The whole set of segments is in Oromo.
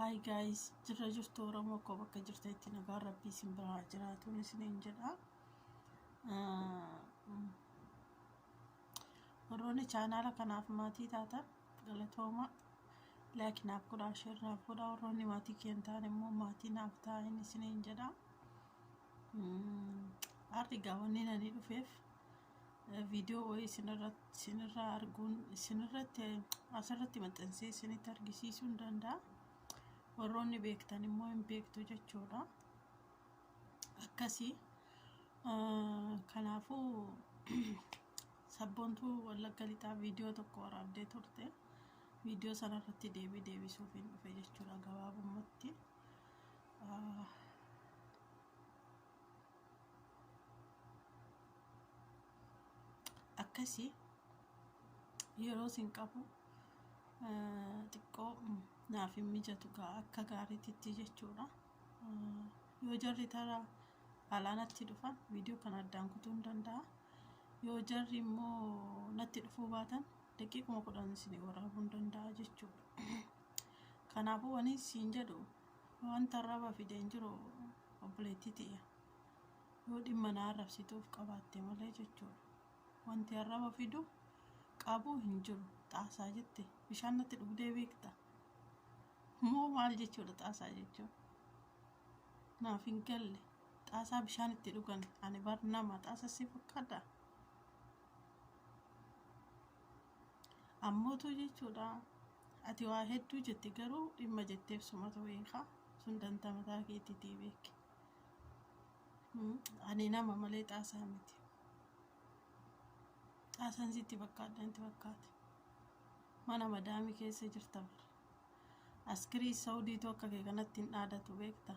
Hi guys, jirra jirtu Oromoo koo bakka jirtanitti nagaan rabbii isin biraa haa jiraatu isiniin jedha. Ah, mm. Warroonni chaanaala kanaaf maatii taatan galatooma laayik naaf godhaa sheer naaf godhaa warroonni maatii kiyya hin taane immoo maatii naaf taa'in isiniin jedha. Har'i egaa wanni ani dhufeef viidiyoo wayii isinirratti isinirraa arguun isinirratti asirratti maxxansee isinitti argisiisuu hin danda'a. Warroonni beektan immoo hin beektu jechuudha. akkasi kanaafu sabboontuu wallagga lixaa viidiyoo tokko waraabdee turte viidiyoo sana irratti deebii deebisuuf hin dhufe jechuudha gabaabumatti akkasi yeroo sin qabu xiqqoo naaf hin mijatu gaa akka gaariititti jechuudha yoo jarri tara alaa natti dhufan viidiyoo kana addaan kutuu hin danda'a yoo jarri immoo natti dhufuu baatan daqiiquma kudhan isin waraabuu hin danda'a jechuudha kanaafuu wani siin jedhu wanta arraba fideen jiru obboleettii tiyya yoo dhimma na arrabsituuf qabaatte malee jechuudha wanti arraba fidu qabuu hin jiru xaasaa jette bishaan natti dhugdee beekta Moo maal jechuudha xaasaa jechuun? Naaf hin galle. Xaasaa bishaan itti dhugan ani bar nama xaasa si fakkaata. Ammootu jechuudha. Ati waa hedduu jette garuu dhimma jetteef sumatu beeka. Sun dantaa mataa keetiitii beeki. Mm, Ani nama malee xaasaa miti. Xaasaan sitti fakkaadha natti fakkaate. Mana madaamii keessa jirta bara. Askirii Saudii too akka kee kanatti hin dhaadatu beekta.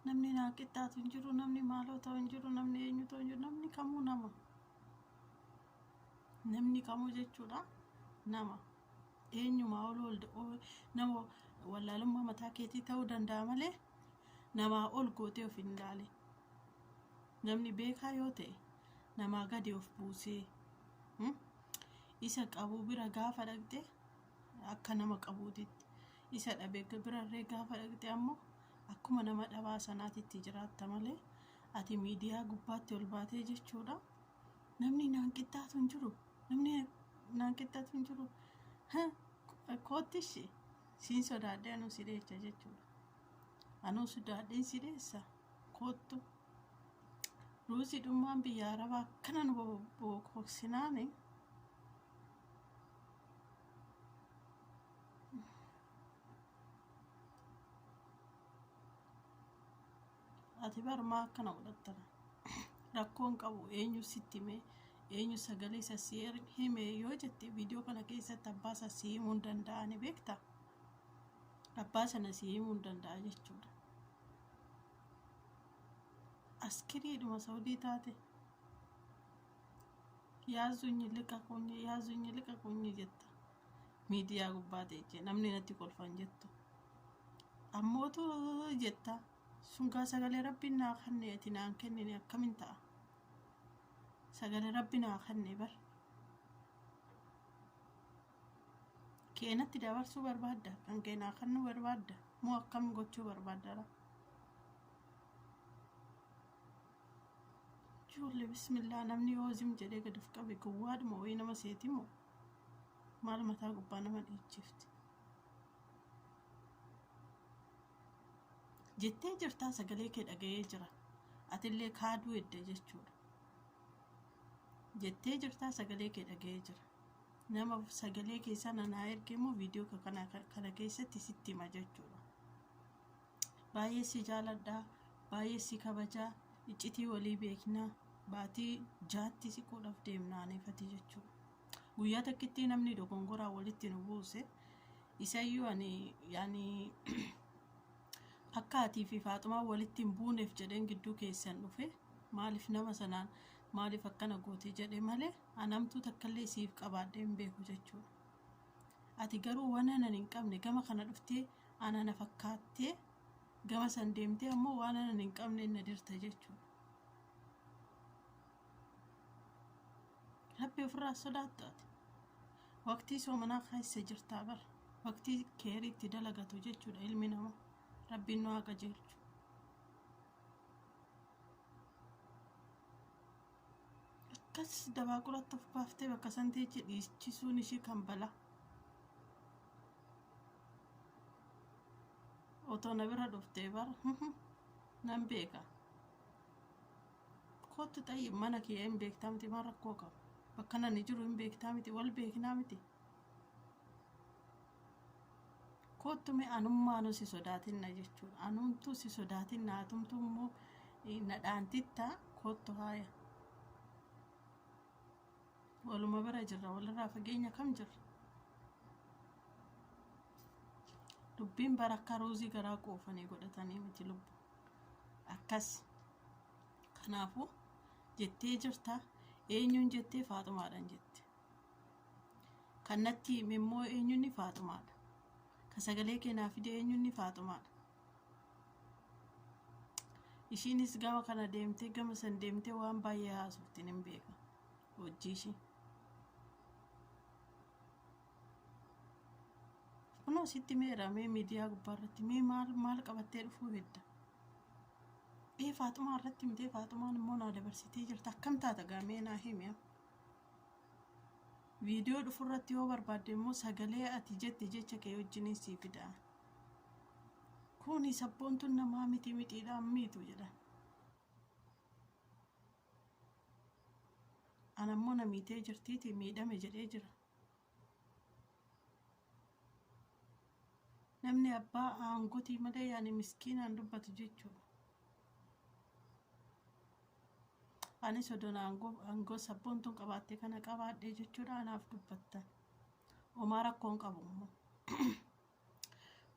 namni naa qixxaatu hin jiru, namni maaloo ta'u hin jiru, namni eenyu ta'u hin jiru, namni kamuu nama. Namni kamuu jechuudha nama. Eenyumaa ol ol ol- nama wallaalummaa mataa keetii ta'uu danda'a malee namaa ol gootee of hin ilaali. Namni beekaa yoo ta'e namaa gadi of buusee. hmm? Isa qabu bira gaafa dhaqxe akka nama qabuutitti, isa dhabe birarree gaafa dhaqxe ammoo akkuma nama dhabaa sanaatitti jiraatta malee ati miidiyaa gubbaatti ol baatee jechuudha. Namni naan qixxaatu hin jiru. Namni naan qixxaatu hin jiru. Ha, koottishi siin sodaadhee anuu si dheecha jechuudha. Anuu sodaadheen si dheessa. koottu ruuzii dhummaan biyya arabaa akkana nu bokoksinaani ati barmaa akkana godhattana rakkoon qabu eenyu sitti himee eenyu sagalee isa si er- hime yoo jette viidiyoo kana keessatti abbaa isaa si himuu hin danda'ani beekta abbaa sana si himuu hin danda'a jechuudha Askiriidhuma Saudii taate yaazuunyi liqa kunyi yaazuunyi liqa kunyi jetta miidiyaa gubbaa teechee namni natti kolfan jettu ammootu jetta sungaa sagalee rabbiin naa kenne ati naan kennine akkamin ta'a sagalee rabbi naa kenne bar kee natti dabarsuu barbaadda kan kee naa kennuu barbaadda moo akkam gochuu barbaadda laa ijoollee bismillaa namni yoo zim jedhee gad of qabe gowwaadhuma wayii nama seeti moo maal mataa gubbaa nama dhiichifti jettee jirtaa sagalee kee dhaga'ee jira atillee kaaduu edda jechuudha jettee jirtaa sagalee kee dhaga'ee jira Nama sagalee kee sana naa erge immoo viidiyoo kee kana kana keessatti sitti hima jechuudha. Baay'ee si jaaladha, baay'ee si kabaja, iccitii walii beekna, baatii jaatti siquudhaaf deemna aneefati jechuudha. Guyyaa takkitti namni dogongoraa walitti nu buuse isayyuu ani yaani akka atii fi faaxumaa walitti hin buuneef jedheen gidduu keessan dhufe maaliif nama sanaan maaliif akkana goote jedhe malee An hamtuu takkallee siif qabaadhee hin beeku jechuudha. Ati garuu wanan an hin qabne gama kana dhuftee ana na fakkaattee gama san deemtee ammoo waan anan hin qabne na dirta jechuudha. Rabbi ofirraa sodaattu ati. Waqtii soomanaa keessa jirtaa bar. Waqtii keeriitti dalagatu jechuudha ilmi namaa. Rabbiin nu haa qajeelchu. Akkas dabaaquratti of baaftee bakka san teechi dhiichisuun ishii kan bala. Otoo na bira dhuftee bar nan beeka. Kootti xayyi mana kiyya hin beektaa miti maal rakkoo qaba. Bakka nani jiru hin beektaa miti wal beeknaa miti. koottu mee anummaanuu si sodaatinna jechuun anumtuu si sodaatinna atumtuu immoo eh, na dhaantitta koottu haaya waluma bira jirra walirraa fageenya kam jirra dubbiin bara akka ruuzii garaa quufanii godhatanii miti lubbu akkas kanaafuu jettee jirta eenyuun jettee faaxumaadhaan jette Kan natti hime immoo eenyunni faaxumaadha. Kan sagalee kee naa fide eenyunni faaxumaadha. Ishiinis gama kana deemtee gama san deemtee waan baay'ee haasoftiin hin beeka. Hojii ishii. Kunoo sitti meera mee miidiyaa gubbaa irratti mee maal maal qabattee dhufuu hedda. Ee faaxumaa irratti mitee faaxumaan immoo naa dabarsitee jirta akkam taata gaamee naa himi. Viidiyoo dhufurratti yoo barbaadde immoo sagalee ati jette jecha kee wajjiniin sii fida. Kuni sabboontuun namaa miti midhiidhaan miitu jedhan. Anammoo na miitee jirtiiti miidhame jedhee jira. Namni abbaa aangotii malee ani miskiinaan dubbatu jechuudha. Anis odoon aangoo aangoo sabboontuun qabaatte kana qabaadhe jechuudha anaaf dubbattan. Omaa rakkoon qabu immoo.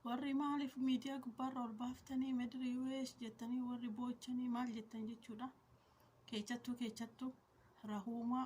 Warri maaliif miidiyaa gubbaarra ol baaftanii madirii US jettanii warri boochanii maal jettan jechuudha. Keechattuu keechattuu rahuumaa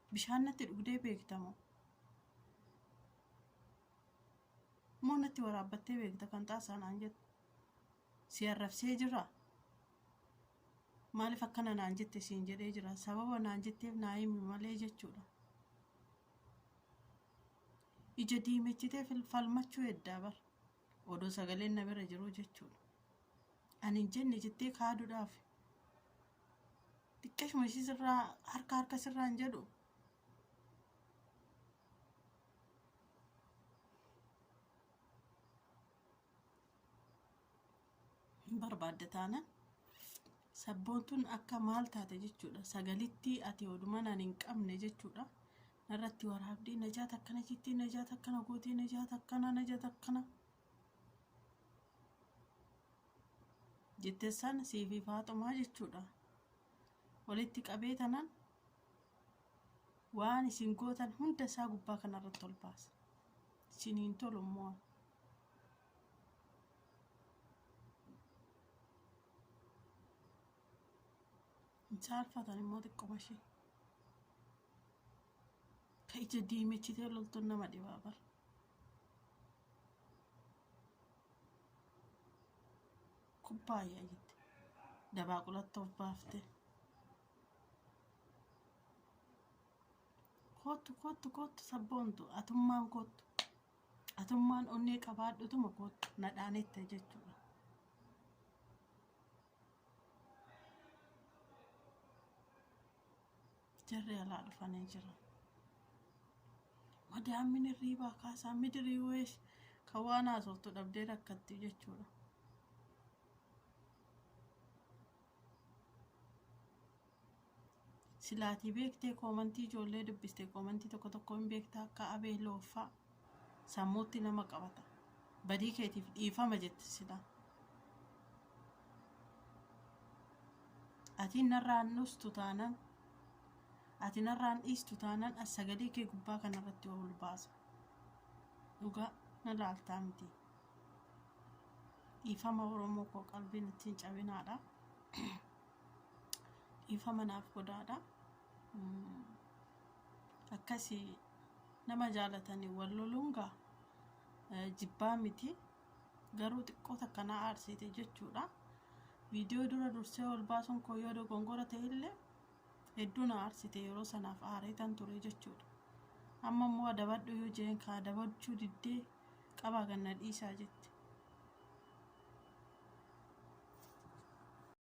Bishaan natti dhugdee beekta moo? Moo natti waraabbattee beekta kan xaasaa naan jette? Si arrabsee jira? Maaliif akkana naan jette siin jedhee jira? Sababa naan jetteef naa himi malee jechuudha. Ija diimechitee fil- falmachuu heddaa bar. Odoo sagaleen na bira jiruu jechuudha. Ani hin jenne jettee kaaduudhaaf Xiqqeeshuma ishii sirraa harka harka sirraa hin jedhu. Hin barbaadde taana. Sabboontuun akka maal taate jechuudha. Sagalittii ati odumaan ani hin qabne jechuudha. Narratti waraabdii najaat akkana jettii najaat akkana gootee najaat akkana najaat akkana. jette san siifi faaxumaa jechuudha walitti qabee tanan waan isin gootan hunda isaa gubbaa kanarratti ol baasa isin hin tolu immoo hin saalfatan immoo xiqqoma ishee ka ija diimechitee loltuun nama dhibaa bara kubbaayyaa jette dabaaqulatti of baafte koottu koottu koottu sabboontu atummaan koottu atummaan onnee qabaadhutuma koottu nadhaanitte jechuudha Jarri alaa dhufanii jiran. Madaammin hirriibaa kaasaa midirii weesh kan waan haasoftu dhabdee rakkatti jechuudha. Silaatii beektee koomantii ijoollee dubbiste koomantii tokko tokko hin beektaa akka abee looffaa. sammuutti nama qabata badii keetiif dhiifama jette silaa ati narraan dhustu taanaan ati narraan dhiistu taanaan as sagalee kee gubbaa kanarratti ol baasa dhugaa na laaltaa miti dhiifama oromoo koo qalbiin ittiin cabinaadha dhiifama naaf godhaadha akkasii Nama jaalatani wal loluun gaa jibbaa miti garuu xiqqoo takka na aarsiite jechuudha. Viidiyoo dura dursee ol baasuun koo yoo dogongora ta'e illee hedduu na aarsite yeroo sanaaf aareetan ture jechuudha. Amma immoo adabadhu yoo jeen kaa adabachuu diddee qabaa ganna dhiisaa jette.